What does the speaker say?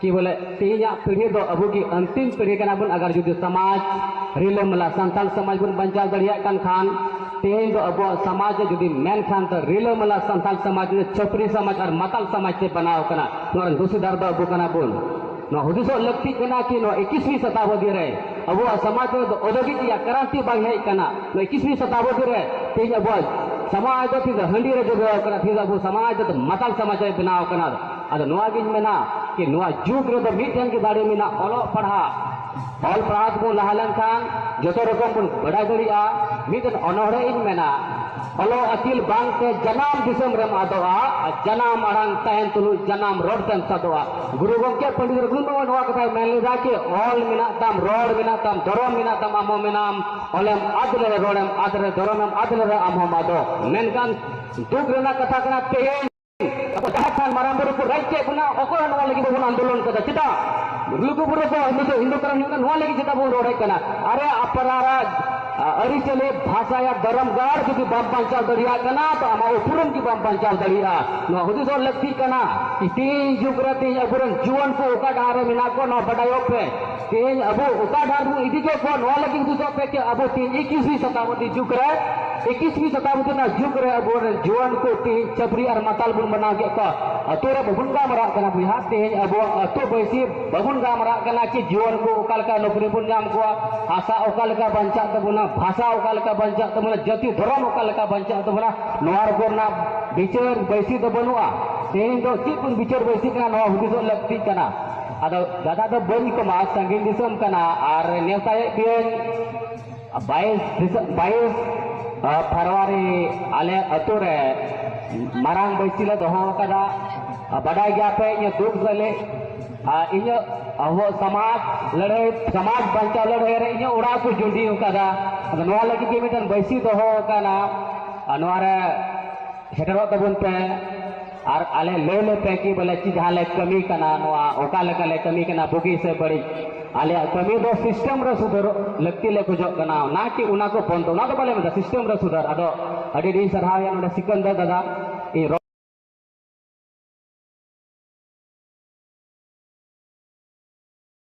ᱠᱤ ᱵᱚᱞᱮ ᱛᱮᱦᱮᱧᱟ ᱯᱤᱲᱦᱤ ᱫᱚ ᱟᱵᱚ ᱜᱮ ᱟᱱᱛᱤᱢ ᱯᱤᱲᱦᱤ ᱠᱟᱱᱟ ᱵᱚᱱ ᱟᱜᱟᱨ ᱡᱩᱫᱤ ᱥᱚᱢᱟᱡᱽ ᱨᱤᱞᱟᱹᱢᱟᱞᱟ ᱥᱟᱱᱛᱟᱲ ᱥᱚᱢᱟᱡᱽ ᱵᱚᱱ ᱵᱟᱧᱪᱟᱣ ᱫᱟᱲᱮᱭᱟᱜ ᱠᱟᱱ ᱠᱷᱟᱱ ᱛᱮᱦᱮᱧ ᱫᱚ ᱟᱵᱚᱣᱟᱜ ᱥᱚᱢᱟᱡᱽ ᱡᱩᱫᱤ ᱢᱮᱱ ᱠᱷᱟᱱ ᱫᱚ ᱨᱤᱞᱟᱹᱢᱟᱞᱟ ᱥᱟᱱᱛᱟᱲ ᱥᱚᱢᱟᱡᱽ ᱫᱚ ᱪᱷᱟᱹᱯᱨᱤ ᱥᱚᱢᱟᱡᱽ ᱟᱨ ᱢᱟᱛᱟᱞ ᱥᱚᱢᱟᱡᱽ ᱛᱮ ᱵᱮᱱᱟᱣ ᱠᱟᱱᱟ ᱱᱚᱣᱟ ᱨᱮᱱ ᱫᱩᱥᱤᱫᱟᱨ ᱫᱚ ᱟᱵᱚ ᱠᱟᱱᱟ ᱵᱚᱱ ᱱᱚᱣᱟ ᱦᱩᱫᱤᱥᱚᱜ ᱞᱟᱹᱠᱛᱤ ᱠᱟᱱᱟ ᱠᱤ ᱱᱚᱣᱟ ᱮᱠᱤᱥᱢᱤ ᱥᱚᱛᱟᱵᱚᱫᱤ ᱨᱮ ᱟᱵᱚᱣᱟᱜ ᱥᱚᱢᱟᱡᱽ ᱨᱮ ᱫᱚ ᱚᱫᱚᱜᱤ ᱨᱮᱭᱟᱜ ᱠᱨᱟᱱᱛᱤ ᱵᱟᱝ ᱦᱮᱡ ᱠᱟᱱᱟ ᱱᱚᱣᱟ ᱮᱠᱤᱥᱢᱤ ᱥᱚᱛᱟᱵᱚᱫᱤ ᱨᱮ ᱛᱮᱦᱮᱧ ᱟᱵᱚᱣᱟᱜ ᱥᱚᱢᱟᱡᱽ ᱫᱚ ᱛᱮᱦᱮᱧ ᱫᱚ ᱦᱟᱺᱰᱤ ᱨᱮ ᱡᱚᱵᱮᱣ ᱠᱟᱱᱟ ᱛᱮᱦᱮᱧ ᱫᱚ ᱟᱵᱚ ᱥᱚᱢᱟᱡᱽ ᱫᱚ ᱢᱟᱛᱟᱞ ᱥᱚᱢᱟᱡᱽ ᱨᱮ ᱵᱮᱱᱟᱣ ᱠᱟᱱᱟ ᱟᱫᱚ ᱱᱚᱣᱟ ᱜᱤᱧ ᱢᱮᱱᱟ ᱠᱤ ᱱᱚᱣᱟ ᱡᱩᱜᱽ ᱨᱮᱫᱚ ᱢᱤᱫᱴᱮᱱ ᱜᱮ ᱫᱟᱲᱮ ᱢᱮᱱᱟᱜ ᱚᱞᱚᱜ ᱯᱟᱲᱦᱟᱜ ᱚᱞ ᱯᱟᱲᱦᱟᱣ ᱛᱮᱵᱚᱱ ᱞᱟᱦᱟ ᱞᱮᱱᱠᱷᱟᱱ ᱡᱚᱛᱚ ᱨᱚᱠᱚᱢ ᱵᱚᱱ ᱵᱟᱰᱟᱭ ᱫᱟᱲᱮᱭᱟᱜᱼᱟ ᱢᱤᱫᱴᱮᱱ ᱚᱱᱚᱲᱦᱮ ᱤᱧ ᱢᱮᱱᱟ ᱚᱞᱚᱜ ᱟᱹᱠᱤᱞ ᱵᱟᱝᱛᱮ ᱡᱟᱱᱟᱢ ᱫᱤᱥᱚᱢ ᱨᱮᱢ ᱟᱫᱚᱜᱼᱟ ᱟᱨ ᱡᱟᱱᱟᱢ ᱟᱲᱟᱝ ᱛᱟᱦᱮᱱ ᱛᱩᱞᱩᱡ ᱡᱟᱱᱟᱢ ᱨᱚᱲ ᱛᱮᱢ ᱥᱟᱫᱚᱜᱼᱟ ᱜᱩᱨᱩ ᱜᱚᱢᱠᱮ ᱯᱚᱱᱰᱤᱛ ᱨᱚᱜᱷᱩᱱᱟᱛᱷ ᱢᱩᱨᱢᱩ ᱱᱚᱣᱟ ᱠᱟᱛᱷᱟᱭ ᱢᱮᱱ ᱞᱮᱫᱟ ᱠᱤ ᱚᱞ ᱢᱮᱱᱟᱜ ᱛᱟᱢ ᱨᱚᱲ ᱢᱮᱱᱟᱜ ᱛᱟᱢ ᱫᱷᱚᱨᱚᱢ ᱢᱮᱱᱟᱜ ᱛᱟᱢ ᱟᱢ ᱦᱚᱸ ᱢᱮᱱᱟᱢ ᱚᱞᱮᱢ ᱟᱫ ᱞᱮᱨᱮ ᱨᱚᱲᱮᱢ ᱟᱫ ᱞᱮᱨᱮ ᱫᱷᱚᱨᱚᱢᱮᱢ ᱟᱫ ᱞᱮᱨᱮ ᱟᱢ ᱦᱚᱸᱢ ᱟᱫᱚᱜ ᱢᱮᱱᱠᱷᱟᱱ ᱫᱩᱠ ᱨᱮᱱᱟᱜ ᱠᱟᱛᱷᱟ ᱠᱟᱱᱟ ᱛᱮᱦᱮᱧ ᱟᱵᱚ ᱡᱟᱦᱮᱨ ᱛᱷᱟᱱ ᱢᱟᱨᱟᱝ ᱵᱩᱨᱩ ᱠᱚ ᱨᱟᱡᱽ ᱠᱮᱫ ᱵᱚᱱᱟ ᱚᱠᱚᱭ ᱦᱚᱸ ᱱᱚᱣᱟ ᱞᱟᱹᱜᱤᱫ ᱵᱟᱵᱚᱱ ᱟᱱᱫᱳᱞᱚᱱ ᱠᱟᱫᱟ ᱪᱮᱫᱟᱜ ᱞᱩᱜᱩ ᱵᱩᱨᱩ ᱫᱚ ᱱᱤᱛᱚᱜ ᱦᱤᱱᱫᱩ ᱫᱷᱚᱨᱚᱢ ᱦᱩᱭᱩᱜ ᱠᱟᱱᱟ ᱱᱚᱣᱟ ᱞᱟᱹᱜᱤᱫ ᱪᱮᱫᱟᱜ ᱵᱚᱱ ᱨᱚᱲᱮᱫ ᱠᱟᱱᱟ ᱟᱨᱮ ᱟᱯᱱᱟᱨᱟ ᱟᱹᱨᱤᱪᱟᱹᱞᱤ ᱵᱷᱟᱥᱟ ᱭᱟ ᱫᱷᱚᱨᱚᱢ ᱜᱟᱲ ᱡᱩᱫᱤ ᱵᱟᱢ ᱵᱟᱧᱪᱟᱣ ᱫᱟᱲᱮᱭᱟᱜ ᱠᱟᱱᱟ ᱛᱚ ᱟᱢᱟᱜ ᱩᱯᱨᱩᱢ ᱜᱮ ᱵᱟᱢ ᱵᱟᱧᱪᱟᱣ ᱫᱟᱲᱮᱭᱟᱜᱼᱟ ᱱᱚᱣᱟ ᱦᱩᱫᱤᱥ ᱦᱚᱸ ᱞᱟᱹᱠᱛᱤᱜ ᱠᱟᱱᱟ ᱛᱮᱦᱮᱧ ᱡᱩᱜᱽ ᱨᱮ ᱛᱮᱦᱮᱧ ᱟᱵᱚᱨᱮᱱ ᱡᱩᱣᱟᱹᱱ ᱠᱚ ᱚᱠᱟ ᱰᱟᱦᱟᱨ ᱨᱮ ᱢᱮᱱᱟᱜ ᱠᱚᱣᱟ ᱱᱚᱣᱟ ᱵᱟᱰᱟᱭᱚᱜ ᱯᱮ ᱛᱮᱦᱮᱧ ᱟᱵᱚ ᱚᱠᱟ ᱰᱟᱦᱟᱨ ᱵᱚᱱ ᱤᱫᱤ ᱠᱮᱫ ᱠᱚᱣᱟ ᱱᱚᱣᱟ ᱞᱟᱹᱜᱤᱫ ᱦᱩᱫᱤᱥᱚᱜ ᱯᱮ ᱠᱤ ᱟᱵᱚ ᱛᱮᱦᱮᱧ ᱮᱠᱤᱥᱣᱤ ᱥᱚᱛᱟᱵᱫᱤ ᱡᱩᱜᱽ ᱨᱮ ᱮᱠᱤᱥᱣᱤ ᱥᱚᱛᱟᱵᱫᱤ ᱨᱮᱱᱟᱜ ᱡᱩᱜᱽ ᱨᱮ ᱟᱵᱚ ᱨᱮᱱ ᱡᱩᱣᱟᱹᱱ ᱠᱚ ᱛᱮᱦᱮᱧ ᱪᱟᱹᱯᱨᱤ ᱟᱨ ᱢᱟᱛᱟᱞ ᱵᱚᱱ ᱵᱮᱱᱟᱣ ᱠᱮᱫ ᱠᱚᱣᱟ ᱟᱛᱳ ᱨᱮ ᱵᱟᱵᱚᱱ ᱜᱟᱞᱢᱟᱨᱟᱜ ᱠᱟᱱᱟ ᱵᱚᱭᱦᱟ ᱛᱮᱦᱮᱧ ᱟᱵᱚᱣᱟᱜ ᱟᱛᱳ ᱵᱟᱹᱭᱥᱤ ᱵᱟᱵᱚᱱ ᱜᱟᱞᱢᱟᱨᱟᱜ ᱠᱟᱱᱟ ᱠᱤ ᱡᱩᱣᱟᱹᱱ ᱠᱚ ᱚᱠᱟ ᱞᱮᱠᱟ ᱱᱚᱠᱨᱤ ᱵᱚᱱ ᱧᱟᱢ ᱠᱚᱣᱟ ᱦᱟᱥᱟ ᱚᱠᱟ ᱞᱮᱠᱟ ᱵᱟᱧᱪᱟᱜ ᱛᱟᱵᱚᱱᱟ ᱵᱷᱟᱥᱟ ᱚᱠᱟ ᱞᱮᱠᱟ ᱵᱟᱧᱪᱟᱜ ᱛᱟᱵᱚᱱᱟ ᱡᱟᱹᱛᱤ ᱫᱷᱚᱨᱚᱢ ᱚᱠᱟ ᱞᱮᱠᱟ ᱵᱟᱧᱪᱟᱜ ᱛᱟᱵᱚᱱᱟ ᱱᱚᱣᱟ ᱨᱮᱠᱚ ᱨᱮᱱᱟᱜ ᱵᱤᱪᱟᱹᱨ ᱵᱟᱹᱭᱥᱤ ᱫᱚ ᱵᱟᱹᱱᱩᱜᱼᱟ ᱛᱮᱦᱮᱧ ᱫᱚ ᱪᱮᱫ ᱵᱚᱱ ᱵᱤᱪᱟᱹᱨ ᱵᱟᱹᱭᱥᱤ ᱠᱟᱱᱟ ᱱᱚᱣᱟ ᱦᱩᱫᱤᱥᱚᱜ ᱞᱟᱹᱠᱛᱤᱜ ᱠᱟᱱᱟ ᱟᱫᱚ ᱫᱟᱫᱟ ᱫᱚ ᱵᱟᱹᱧ ᱠᱚᱢᱟ ᱥᱟᱺᱜᱤᱧ ᱫᱤᱥᱚᱢ ᱠᱟᱱᱟ ᱟᱨ ᱱᱮᱣᱛᱟᱭᱮᱫ ᱯᱮᱭᱟᱹᱧ ᱵᱟᱭᱤᱥ ᱵᱟᱭᱤᱥ ᱯᱷᱮᱵᱽᱨᱩᱣᱟᱨᱤ ᱟᱞᱮ ᱟᱹᱛᱩ ᱨᱮ ᱢᱟᱨᱟᱝ ᱵᱟᱹᱭᱥᱤ ᱞᱮ ᱫᱚᱦᱚ ᱟᱠᱟᱫᱟ ᱵᱟᱰᱟᱭ ᱜᱮᱭᱟ ᱯᱮ ᱤᱧᱟᱹᱜ ᱫᱩᱠ ᱨᱮᱞᱮ ᱤᱧᱟᱹᱜ ᱟᱵᱚ ᱥᱚᱢᱟᱡᱽ ᱞᱟᱹᱲᱦᱟᱹᱭ ᱥᱚᱢᱟᱡᱽ ᱵᱟᱧᱪᱟᱣ ᱞᱟᱹᱲᱦᱟᱹᱭ ᱨᱮ ᱤᱧᱟᱹᱜ ᱚᱲᱟᱜ ᱠᱚ ᱡᱩᱸᱰᱤ ᱟᱠᱟᱫᱟ ᱟᱫᱚ ᱱᱚᱣᱟ ᱞᱟᱹᱜᱤᱫ ᱜᱮ ᱢᱤᱫᱴᱮᱱ ᱵᱟᱹᱭᱥᱤ ᱫᱚᱦᱚ ᱟᱠᱟᱱᱟ ᱟᱨ ᱱᱚᱣᱟ ᱨᱮ ᱥᱮᱴᱮᱨᱚᱜ ᱛᱟᱵᱚᱱ ᱯᱮ ᱟᱨ ᱟᱞᱮ ᱞᱟᱹᱭ ᱞᱮ ᱯᱮ ᱠᱤ ᱵᱚᱞᱮ ᱪᱮᱫ ᱡᱟᱦᱟᱸ ᱞᱮ ᱠᱟᱹᱢᱤ ᱠᱟᱱᱟ ᱱᱚᱣᱟ ᱚᱠᱟ ᱞᱮᱠᱟ ᱞᱮ ᱠᱟᱹᱢᱤ ᱠᱟᱱᱟ ᱵᱩᱜᱤ ᱥᱮ ᱵᱟᱹᱲᱤᱡ ᱟᱞᱮᱭᱟᱜ ᱠᱟᱹᱢᱤ ᱫᱚ ᱥᱤᱥᱴᱮᱢ ᱨᱮ ᱥᱩᱫᱷᱟᱹᱨ ᱞᱟᱹᱠᱛᱤ ᱞᱮ ᱠᱷᱚᱡᱚᱜ ᱠᱟᱱᱟ ᱚᱱᱟ ᱠᱤ ᱚᱱᱟ ᱠᱚ ᱵᱚᱱᱫᱚ ᱚᱱᱟ ᱫᱚ ᱵᱟᱞᱮ ᱢᱮᱱᱫᱟ ᱥᱤᱥᱴᱮᱢ ᱨᱮ ᱥᱩᱫᱷᱟᱹᱨ ᱟᱫᱚ ᱟᱹᱰᱤ ᱟᱹᱰᱤ ᱥᱟᱨᱦᱟᱣ ᱮᱭᱟ ᱱᱚᱰᱮ ᱥᱤᱠᱟᱱᱫᱟᱨ ᱫᱟᱫᱟ ᱤᱧ ᱨᱚᱲ